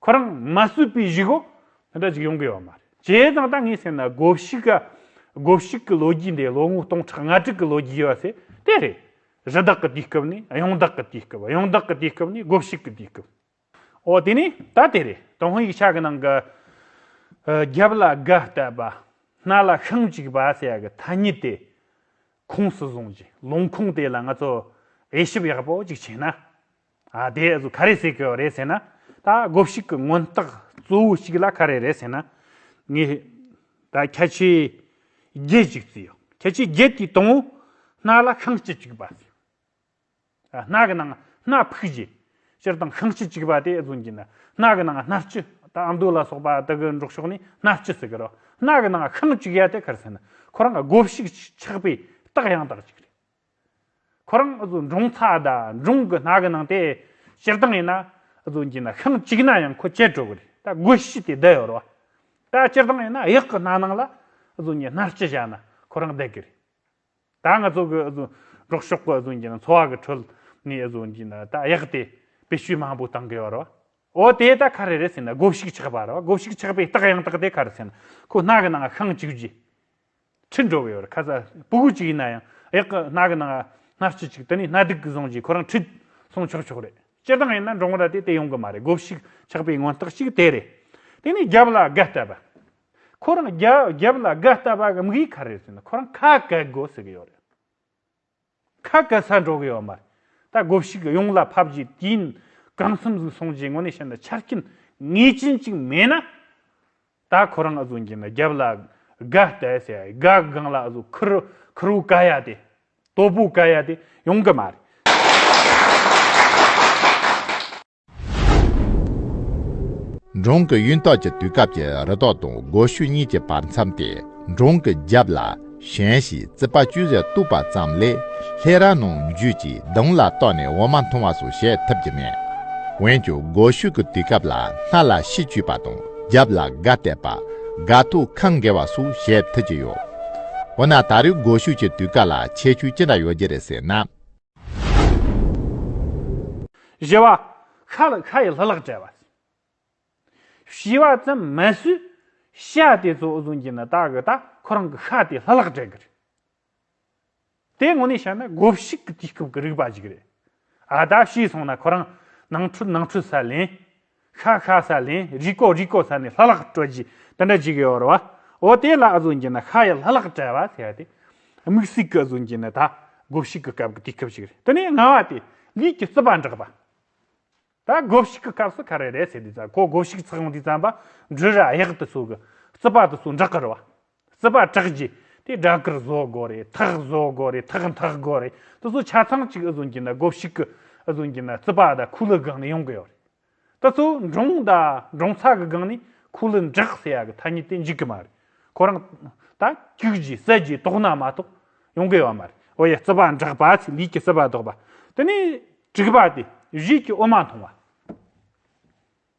Speaker 2: ཁོ་རང་མ་བསུས་པའི་གཞིག་འོག་དེ་འདྲ་ཞིག་ཡོང་གི་ཡོད་མ་རེད། བྱས་ཙང་ད་ངས་བཤད་ན་དགོ་བཤིག་ག་དགོ་བཤིག་གི་ལོ་རྒྱུས་འདི་ལོ་ངོ་སྟོང་ཕྲག་ང་དྲུག་གི་ལོ་རྒྱུས་ཡོད་ཚེ་དེ་རེད། གཞི་བདག་གི་དུས་སྐབས་ནི་གཡང་བདག་གི་དུས་སྐབས་གཡང་བདག་གི་དུས་སྐབས་ནི་དགོ་བཤིག་གི་དུས་སྐབས། འོ་དེ་ནས་ད་དེ་རེད་ཏུང་ཧོན་ཡིག་ཆ་གི་ནང་གི། རྒྱབ་ལ་སྒ་བཏབ་པ། སྣ་ལ་ཤིང་གཅིག་པ་ཟེར་ཡག་གི་ཐ་སྙད་དེ། ཁུངས་སུ་བཟུང་རྗེས་ལུང་ཁུངས་དེ་ལ་ང་ཚོ་དབྱེ་ཞིབ་ཡག་པོ་ཅིག་བྱས་ན། ཨ་དེ་ཚོ་ག་རེ་ཟེར་གི་རེད་ཟེར་ན། ད་སྒོ་ཕྱུགས་ཀྱི་སྔོན་རྟགས་གཙོ་བོ་ཞིག་ལ་ག་རེ་རེད་ཟེར་ན། ངས་ད་ཁྱད་ཆོས་བརྒྱད་ཅིག་བརྩི་ཡོད། ཁྱད་ཆོས་བརྒྱད་དེའི་དང་བོ། སྣ་ལ་ཤིང་གཅིག་གཅིག་པ། སྣ་གི་ནང་སྣ་ཕུག་བཞི། སྤྱིར་བཏང་ཤིང་གཅིག་གཅིག་པ་དེ་ཚོ་འབྱིན་ན། སྣ་གི་ནང་སྣ་བཅུ། ད་ཨ་མདོ་ལ་སོགས་པ་དག་གི་འབྲོག་ཕྱོགས་ནས་སྣ་བཅུ་ཟེར་གི་རེད། སྣ་གི་ནང་ཤིང་གཅིག་ཡ་དེ་ག་རེ་ཟེར་ན། ཁོ་རང་གི་སྒོ་ཕྱུགས་ཆགས་པའི་རྟགས་ཡང་དག་ཅིག་རེད། ཁོ་རང་འབྲོང་ཚ་དང་འབྲོང་གི་ནགས་ཀྱི་ནང་དེ་སྤྱིར་བཏང་ཡིན་ན་འགྱིང་ན་ཤིང་གཅིག་ན་ཡང་ཁོ་བཅད་དྲུག་རེད་ད་སྒོ་བཞི་སྟེ་བསྡད་ཡོད་རོགས་ད་སྤྱིར་བཏང་ཡིན་ན་གཡག་གི་སྣ་ནང་ལ་ངས་སྣ་སྤྱི་བཞག་ན་ཁོ་རང་བསྡད་ཀྱི་རེད་ད་ང་ཚོ་གི་འབྲོག་ཕྱོགས་ཀྱི་འགྱིང་ན་འཚོ་བ་གི་ཁྲོད་ནས་འགྱིང་ན་ད་གཡག་དེ་བེད་སྤྱོད་མང་པོ་གཏང་གི་ཡོད་རོགས་འོ་དེ་ད་ག་རེ་རེད་ཟེར་ན་སྒོ་བཞི་ཆགས་པ་རོགས་སྒོ་བཞི་ཆགས་པའི་རྟགས་ཡང་དག་དེ་ག་རེ་ཟེར་ན་ཁོ་སྣ་གི་ནང་ཤིང་གཅིག་བཞི། ཕྱིར་འགྲོ་བའི་བར་ཁ་ས་སྤུ་གུ་གཅིག་ཡིན་ན་ཡང་གཡག་གི་སྣ་གི་ནང་སྣ་སྤྱི་གཅིག་དེ་ནས་སྣ་སྡིག་གིས་བཟུང་རྗེས་ཁོ་རང་ཁྲིད་སོང་ཆོག་ཆོག་རེད། སྤྱིར་བཏང་ཡིན་ན་འབྲོག་མོ་ར་དེ་དེ་ཡོང་གི་མ་རེད་སྒོ་ཕྱུགས་ཆགས་པའི་མངོན་རྟགས་ཤིག་དེ་རེད། དེ་ནས་རྒྱབ་ལ་སྒ་བཏབ་པ། ཁོ་རང་རྒྱབ་ལ་སྒ་བཏབ་པ་གམ་གཡིས་ཁ་རེད་ཟེར་ན་ཁོ་རང་ཁ་བཀལ་དགོས་ཟེར་གི་ཡོད་རེད། ཁ་བཀལ་ས་འགྲོ་གི་ཡོད་མ་རེད། ད་སྒོ་ཕྱུགས་གཡུང་ལ་ཕབ་རྗེས་དུས་ཡུན་གང་འཚམས་ཟིག་སོང་རྗེས་དངོས་གནས་བཤད་ན་ཆ་རྐྱེན་ངེས་ཅན་ཅིག་མེད་ན། ད་ཁོ་རང་ཨ་ཟོ་འགྱིང་ན་རྒྱབ་ལ་དགའ་བལྟས་ཟེར་ཡ་ཡིན་དགའ་གང་ལ་ཨ་ཟོ་ཁུར་ཁུར་བོ་བཀལ་ཡ་དེ། སྟོབས་པོ་བཀལ་ཡ་དེ་ཡོང་གི་མ་རེད། འབྲོང་གི་གཡུན་ཐོག་གི་དུས་སྐབས་ཀྱི་རི་
Speaker 1: ཐོག་དང་སྒོ་ཤུལ་གཉིས་ཀྱི་བར་མཚམས་ཏེ་འབྲོང་གི་རྒྱབ་ལ་ཞེན་ཞིག་རྩིག་པ་ཅུང་ཟད་བཏུབ་པ་ཙམ་ལས་ལྷས་ར་ནང་བརྒྱུད་ཀྱི་གདོང་ལ་གཏོགས་ནས་འོ་མ་འཐུང་བ་སོགས་བྱེད་ཐུབ་ཀྱི་མེད། འོན་ཀྱང་སྒོ་ཤུལ་གྱི་དུས་སྐབས་ལ་སྣ་ལ་ཤིས་བཅུས་པ་དང་རྒྱབ་ལ་སྒ་གཏད་པ། སྒ་ཐུག་ཁང་འགེལ་བ་སོགས་བྱེད་ཐུབ་ཀྱི་ཡོད། འོ་ན་ད་རེས་སྒོ་ཤུལ་གྱི་དུས་སྐབས་ལ་ཁྱད་ཆོས་ཅི་འདྲ་ཡོད་ཀྱི་རེད་ཟེར་ན།
Speaker 2: བཞི་བ། ཤ་ལ་ཤ་ཡི་ལྷུ་ལག་བྲལ་བ། བཞི་བ་ཙམ་མ་ཟོས། ཤ་དེ་ཚོ་འུ་ཟོན་གྱི་ནི་ད་གི་ད་ཁོ་རང་གི་ཤ་དེའི་ལྷུ་ལག་བྲལ་གི་རེད། དེ་ངོ་ནས་བཤད་ན་དགོ་བཤིག་གི་དུས་སྐབས་ཀྱི་རིག་པ་ཞིག་རེད། ཨ་ད་བཤིག་སོང་ན་ཁོ་རང་ནང་ཁྲོལ་ནང་ཁྲོལ་ས་ལེན། ཤ་ཤ་ཟ་ལན་རི་ཀོ་རི་ཀོ་ཟ་ནས་ལྷ་ལག་སྤྲོད་རྗེས་དེ་འདྲ་བྱེད་གི་ཨོ་རེད་བ། ཨོ་དེ་ལ་ཨ་ཟུང་གྱིས་ན་ཤ་ཡི་ལྷ་ལག་བྲལ་བ་ཟེར་ཏེ། དམིགས་བསིག་གི་ཨ་ཟུང་གྱིས་ན་ད་དགོ་བཤིག་གི་སྐབས་ཀྱི་དུས་སྐབས་ཤིག་རེད་དེ་ནས་ང་བ་དེས་ལུས་ཀྱི་རྩི་བ་འབྲེག་པ། ད་དགོ་བཤིག་གི་སྐབས་སུ་ཁ་རེ་རེ་བྱས་དུས་ད་གོ་དགོ་བཤིག་ཚགས་འདི་ཙམ་པ་འབྲུ་ར་གཡག་དུ་སོགས་ཀྱི་རྩི་བ་དུ་སོགས་འབྲེག་གི་རེད་བ། སྲིད་པ་གྲགས་ཀྱི་དེ་སྒྲ་དཀར་བཟོ་དགོས་རེད་ཐག་བཟོ་དགོས་རེད་ཐག་འཐག་དགོས་རེད་དེ་ཚོ་ཆ་ཚང་གཅིག་ཨི་བཟོ་གྱི་འདུག་སྒོ་ཕྱུགས་ཀྱི་ཨི་བཟོ་གྱི་འདུག་རྩིད་པ་དང་ཁུ་ལུ་སྒང་ནས་ཡོང་གི་ཡོད་རེད་དེ་ཚོ་འབྲོང་དང་འབྲོང་ཚ་གི་སྒང་ནས་ཁུ་ལུ་འབྲེག་ཟེར་ཡ་གི་ཐ་སྙད་དེ་འཇིག་གི་མ་རེད་ཁོ་རང་ད་སྐྱུག་གྱི་ཟས་ཀྱི་དོག་སྣ་མ་གཏོགས་ཡོང་གི་ཡོད་མ་རེད་འོ་ཡ་རྩིད་པ་འབྲེག་པ་ཚོས་ལུས་ཀྱི་སྲིད་པ་བཟློག་པ་དེ་ནས་དྲུག་པ་དེ་གཞིས་ཀྱི་དབུ་མ་མཐོང་བ།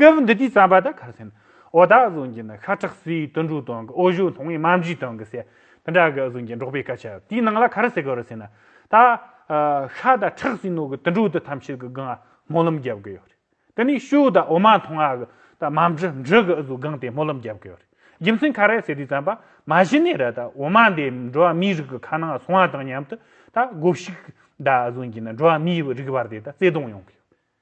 Speaker 2: སྐབས་འདི་དུས་བརྩམས་པ་དག་ཁ་སེམས་འོ་དག་ཟུང་གིས་ནི་ཤ་ཁྲག་སྲིའི་དུད་འགྲོའི་དོན་གྱི་འོ་བཞོ་ལྷུང་བའི་རྨ་བྱའི་དོན་གྱི་ཟས་དེ་འདྲ་གི་ཟུང་གིས་འགྲོགས་པའི་སྐད་ཆ་དེའི་ནང་ལ་ག་རེ་ཟེར་གི་རེད་ཟེར་ན། ད་ཤ་དང་ཁྲག་སྲིན་ནོར་གྱི་དུད་འགྲོ་དེ་ཐམས་ཅད་ཀྱི་སྒང་སྨོན་ལམ་རྒྱབ་གི་ཡོད་རེད། དེ་ནས་ཤུ་དང་འོ་མ་འཐུང་བ་གི་ད་མ་འབྲི་འབྲི་གི་ཟུང་སྒང་དེ་སྨོན་ལམ་རྒྱབ་གི་ཡོད་རེད། རྒྱུ་མཚན་ག་རེ་ཟེར་དུས་བརྩམས་པ་མ་གཞི་ནས་ར་ད་འོ་མ་འདི་འགྲོ་བ་མིའི་རིགས་ཀྱི་ཁ་ནང་ལ་སོང་བ་དང་མཉམ་དུ་ད་སྒོ་ཕྱུགས་ད་ཟུང་གིས་ནི་འགྲོ་བ་མིའི་རིགས་བར་དེ་ད་བརྩེ་དུང་ཡོང་གི་ཡོད།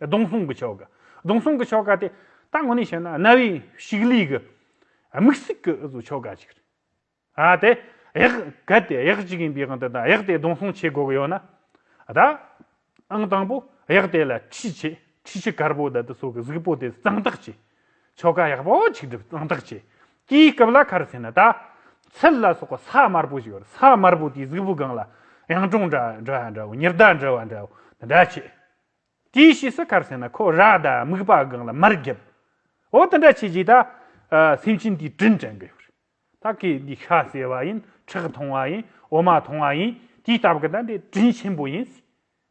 Speaker 2: སྡོང་སྲུང་གི་ཆོ་ག། སྡོང་སྲུང་གི་ཆོ་ག་དེ་ད་ངོ་ནས་བཤད་ན་གནའ་བོའི་ཕྱུགས་ལས་ཀྱི་དམིགས་སྲེག་གི་ཆོ་ག་ཞིག་རེད། ཨ་དེ་གཡག་གལ་ཏེ་གཡག་ཅིག་ཡིན་པའི་དབང་དུ་ད་གཡག་དེ་སྡོང་སྲུང་བྱེད་དགོས་ཀྱི་ཡོད་ན། ད་ཨང་དང་པོ་གཡག་དེ་ལ་ཁྲི་ཆེ་ཁྲི་ཆེ་དཀར་པོ་ད་དེ་སོགས་ཀྱི་གཟུགས་པོ་དེ་གཙང་དག་བྱེད། ཆོ་ག་ཡག་པོ་ཆིག་སྒྲིལ་གཙང་དག་བྱས། དེའི་སྐབས་ལ་ཁར་ཟས་ནི་ད། ཚལ་ལ་སོགས་པ་ས་དམར་པོ་ཞིག་ཡོད། ས་དམར་པོ་དེའི་གཟུགས་པོའི་སྒང་ལ། གཡང་དྲུང་འདྲ་འདྲ་ཡང་འདྲ་བོ་ཉི་ཟླ་འདྲ་བ་འདྲ་བོ་དེ་འདྲ་བྱས། དེའི་ཕྱིས་སུ་ཁར་ཟས་ནི་ཁོ་ར་ད་སྨུག་པ་སྒང་ལ་མར་བརྒྱབ། འོ་དེ་འདྲ་བྱས་རྗེས་ད། སེམས་ཅན་དེའི་དྲིན་དྲན་དགོས། ད་ཁོས་འདི་ཤ་ཟས་པ་ཡིན་ཁྲག་འཐུང་བ་ཡིན་འོ་མ་འཐུང་བ་ཡིན་དེའི་སྟབས་ཀྱིས་ད་འདི་དྲིན་ཆེན་པོ་ཡིན།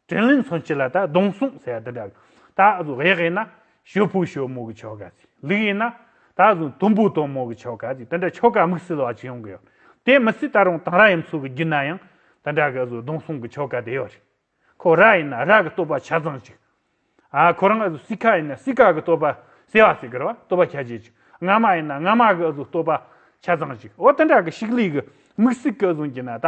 Speaker 2: དྲིན་ལན་མཚོན་ཕྱིར་ལ་ད་གདོང་གསུངས་ཟེར་བ་འདི་འདྲ། ད་གཟུགས་ཡག་ཡིན་ན། ཞོ་ཕུག་ཞོ་མོ་གི་ཆོ་ག་ཟིག་ལུག་ཡིན་ན། ད་གཟུགས་དུམ་བུ་དུམ་མོ་གི་ཆོ་ག་ཟིག་དེ་འདྲ་ཆོ་ག་དམིགས་བསལ་བ་ཅི་ཡོང་གི་ཡོད། དེ་མི་སྲིད་ད་རུང་དང་ར་ཡིན་ཚུལ་གྱི་རྒྱུད་ན་ཡང་དེ་འདྲ་གི་གཟུགས་གདོང་གསུངས་གི་ཆོ་ག་དེ་ཡོད་རེད། ཁོ་ར་ཡིན་ན་ར་གི་བསྟོད་པ་ཆ་ཚང་ཅིག། ཨ་ཁོ་རང་གཟུགས་སི་ཁ་ཡིན་ན་སི་ཁ་གི་བསྟོད་པ་ཟེར་བ་ཟེར་གི་རེད་བ་བསྟོད་པ་ཁྱད་ཆེ་ཅིག་རྔ་མ་ཡིན་ན་རྔ་མ་གི་གཟུགས་བསྟོད་པ་ཆ་ཚང་ཅིག་འོ་དེ་འདྲ་གི་ཤིག་ལུས་གི་དམིགས་སྲིད་གི་གཟུངས་ཀྱི་ན་ད།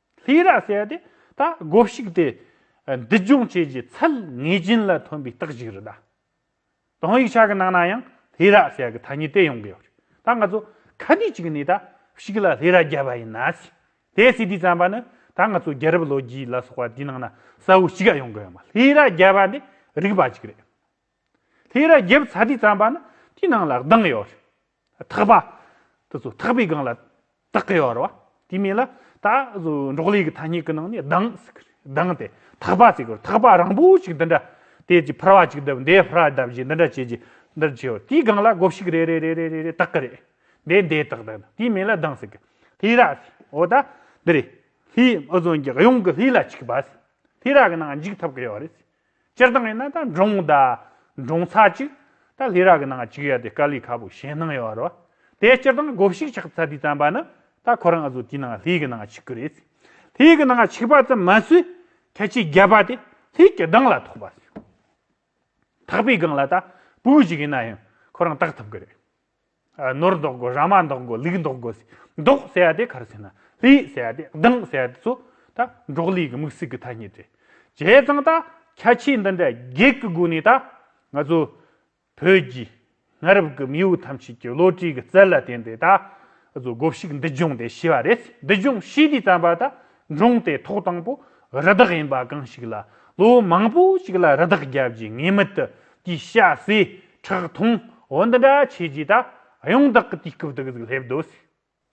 Speaker 2: ལྷའི་རྭ་བསལ་ཏེ་ད་སྒོ་བཤིག་སྟེ། འདི་སྦྱོང་བྱེད་ཀྱི་ཚད་ངེས་ཅན་ལ་ཐོན་པའི་རྟགས་ཤིག་རེད་ད། དོན་ཡིག་ཆ་གི་ནང་ན་ཡང་ལྷའི་རྭ་བསལ་གི་ཐ་སྙད་དེ་ཡོང་གི་ཡོད་རེད་ད། ང་ཚོ་ཁ་དུས་གཅིག་ནས་ད་བཤིག་ལ་ལྷའི་རྭ་བརྒྱབ་པ་ཡིན་ན། དེའི་སྲིད་དུས་བརྩམས་པ་ནི་ད་ང་ཚོ་རྒྱལ་རབས་ལོ་རྒྱུས་ལ་སོགས་པ་དེའི་ནང་ན་གསལ་བོ་ཞིག་ཡོང་གི་ཡོད་མ་ལྷའི་རྭ་བརྒྱབ་པ་འདི་རིགས་པ་ཅིག་རེད། ལྷའི་རྭ་བརྒྱབ་ཚར་དུས་བརྩམས་པ་ནི་དེའི་ནང་ལ་གདངས་ཡོད་རེད། ཐག་པ། དེ་ཚོ་ཐག་པའི་སྒང་ལ་དག་གི་ཡོད་རེད་བ། དེ་མིན་ལ་ད་འབྲོག་ལས་ཀྱི་ཐ་སྙད་ཀྱི་ནང་ནས་གདང་ཟེར་གི་རེད། གདང་དེ་ཐག་པ་ཟེར་གི་རེད། ཐག་པ་རང་པོ་ཞིག་འདི་འདྲ་དེ་ཅིག་ཕུར་བ་ཅིག་བརྡབས་འདི་ཕུར་བ་བརྡབས་ཞེས་འདི་འདྲ་བྱེད་ཀྱི་འདི་འདྲ་བྱེད་དེའི་སྒང་ལ་སྒོ་ཕྱུགས་རེ་རེ་རེ་རེ་རེ་དག་གི་རེད། འདི་འདི་དག་དག་དེ་མིན་ལ་གདང་ཟེར་གི། ལྷས་ར། འོ་ད་འདི་རེད། ལྷས་ཨུ་ཟོན་གྱི་གཡོན་གྱི་ལྷས་ར་ཅིག་བ། ལྷས་ར་གི་ནང་འཇུག་ཐུབ་ཀྱི་ཡོད་རེད། སྤྱིར་བཏང་ཡིན་ན་ད་འབྲོང་ད། འབྲོང་ཚ་གཅིག། ད་ལྷས་རག་གི་ནང་གཅིག་ཡོད་དེ་དཀའ་ལས་ཁ་པོ་གཞན་སྣང་ཡོད་རོ། དེ་སྤྱིར་བཏང་གོ་བཤིག་ཆག་ཚ་དུས་བརྩམས་པ་ནི། ད་ཁོ་རང་ང་ཚོ་དེའི་ནང་ལྷས་ཀྱི་ནང་གཅིག་གི་རེད། ལྷས་ཀྱི་ནང་གཅིག་པ་ཙམ་མ་ཟོས། ཁྱད་ཆེ་བརྒྱད་པ་དེ་ལྷས་ཀྱི་སྡང་ལ་ཐོགས་པ། ཐག་པའི་སྒང་ལ་ད་བུག་གཅིག་ཡིན་ན་ཡང་ཁོ་རང་བཏགས་ཐུབ་གི་རེད། ནོར་འདོགས་དགོས་ར་མ་འདོགས་དགོས་ལུག་འདོགས་དགོས། འདོགས་ཟེར་བ་དེ་ག་རེ་ཟེར་ན་ལུག་ཟེར་བ་དེ་གདངས་ཟེར་བ་དེ་ཚོ་ད་འབྲོག་ལུག་གི་མིག་ཟུག་གི་ཐ་སྙད་རེད། བྱས་ཙང་ད་ཁྱད་ཆོས་འདི་འདྲ་བརྒྱད་ཀྱི་སྒོ་ནས་ད་ང་ཚོ་བོད་རྒྱའི་གནའ་རབས་ཀྱི་མིའུ་ཐམས་ཅད་ཀྱི་བློ་གྲོས་ཀྱི་རྩལ་ལ་བརྟེན་ཏེ་ད་ང་ཚོ་དགོ་བཤིག་འདི་སྦྱོང་དེ་ཤི་བ་རེད་འདི་སྦྱོང་ཤི་དུས་རྩམ་པ་ད་འབྲོང་དེ་ཐོག་དང་པོ་རི་དྭགས་ཡིན་པ་གང་ཞིག་ལ་ལོ་མང་པོ་ཞིག་ལ་རི་དྭགས་རྒྱབ་རྗེས་ངེས་མེད་དུ་དེའི་ཤ་ཟས་ཁྲག་འཐུང་འོ་འདི་འདྲ་བྱས་རྗེས་ད་ཡོང་བདག་གི་དུས་སྐབས་དེ་ག་ཟིག་སླེབས་འདོད་སྲིད།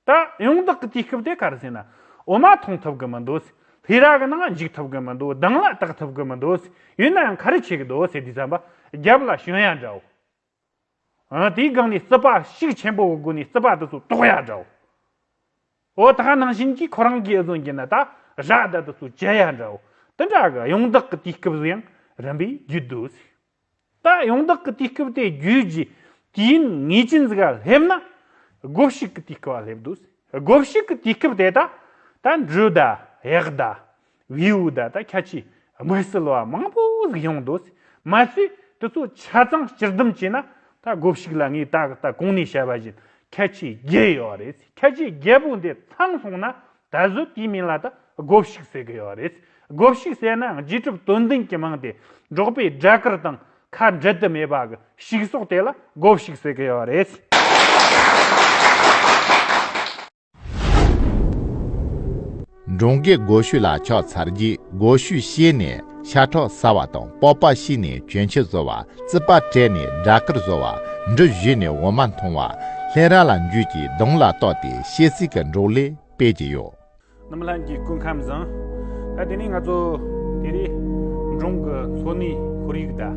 Speaker 2: ད་ཡོང་བདག་གི་དུས་སྐབས་དེ་ག་རེ་ཟེར་ན་འོ་མ་མཐོང་ཐུབ་གི་མི་འདུག་སྲིད་ལྷའི་རྭ་གི་ནང་འཇུག་ཐུབ་གི་མི་འདུག་གདང་ལ་གཏག་ཐུབ་གི་མི་འདུག་སྲིད་ཡོད་ན་ཡང་ག་རེ་བྱེད་གི་འདུག་སྲིད་དུས་བསམ་པ་རྒྱབ་ལ་ཞོན་ཡ་འདྲ་བོ། དེའི་སྒང་ནས་རྩི་པགས་ཤུགས་ཆེན་པོ་བོ་དགོས་ནས་རྩི་པགས་དེ་ཚོ་ལྟོགས་ཡ་འདྲའོ། འོ་ད་ནང་བཞིན་གྱིས་ཁོ་རང་གིས་ཨེ་ཟོན་གྱིས་ན་ད་རག་ད་དེ་ཚོ་བྱེད་ཡ་འདྲའོ། དེ་འདྲ་གི་གཡུང་བདག་གི་དུས་སྐབས་སུ་ཡང་རིམ་པས་བརྒྱུད་འདུག། ད་གཡུང་བདག་གི་དུས་སྐབས་དེ་བརྒྱུད་རྗེས་དུས་ངེས་ཅན་ཟིག་སླེབས་ན་སྒོ་བཤིག་གི་དུས་སྐབས་སླེབས་འདུག་སྒོ་བཤིག་གི་དུས་སྐབས་དེ་ད་ད་འབྲུ་ཟླ་གཡག་ཟླ་བེའུ་བདག་དང་ཁྱད་ཆོས་དམིགས་བསལ་བ་མང་པོ་ཟིག་ཡོང་འདུག་མ་ཟད་དེ་ཚོ་ཆ་ཚང་སྤྱིར་བསྡོམས་བྱས་ན་ད་གོ་ཞིག་ལ་ངས་ད་ལྟ་གོང་ནས་བཤད་པ་བཞིན་ཁྱད་ཆོས་བརྒྱད་ཡོད་རེད་ཁྱད་ཆོས་བརྒྱད་པོ་འདི་ཚང་སོང་ན་ད་གཟོད་དེའི་མིང་ལ་ད་གོ་ཞིག་ཟེར་གི་ཡོད་རེད་གོ་ཞིག་ཟེར་ན་རྗེས་གྲུབ་དོན་ལྡན་གྱི་མིང་དེ་འབྲོག་པའི་སྦྲ་དཀར་དང་ཁ་འབྲལ་དུ་མེད་པ་གི་ཞིག་སོགས་དེ་ལ་གོ་ཞིག་ཟེར་གི་ཡོད་རེད།
Speaker 1: འབྲོང་རྒས་སྒོ་བཤུས་ལ་ཕྱག་འཚལ་རྗེས་སྒོ་བཤུས་བཤས་ནས་ཤ་ཁྲག་བསལ་བ་དང་སྤོབས་པ་ཤིས་ནས་གྱོན་ཕྱེད་བཟོ་བ་རྩིད་པ་བཀྲལ་ནས་སྦྲ་དཀར་བཟོ་བ་འབྲུ་བཞི་ནས་འོ་མ་འཐུང་བ་ལྷས་ར་ལ་འཇུས་ཀྱིས་གདོང་ལ་གཏོགས་ཏེ་ཤེལ་གསིལ་གྱི་འབྲོག་ལས་སྤེལ་གྱི་ཡོད། རྣམ་ལྷན་གྱི་
Speaker 2: སྐུ་ཁམས་བཟང། ད་དེ་ནས་ང་ཚོ་དེ་རིང་འབྲོང་གི་ལྷོ་ནུས་ཁོར་ཡུག་དང།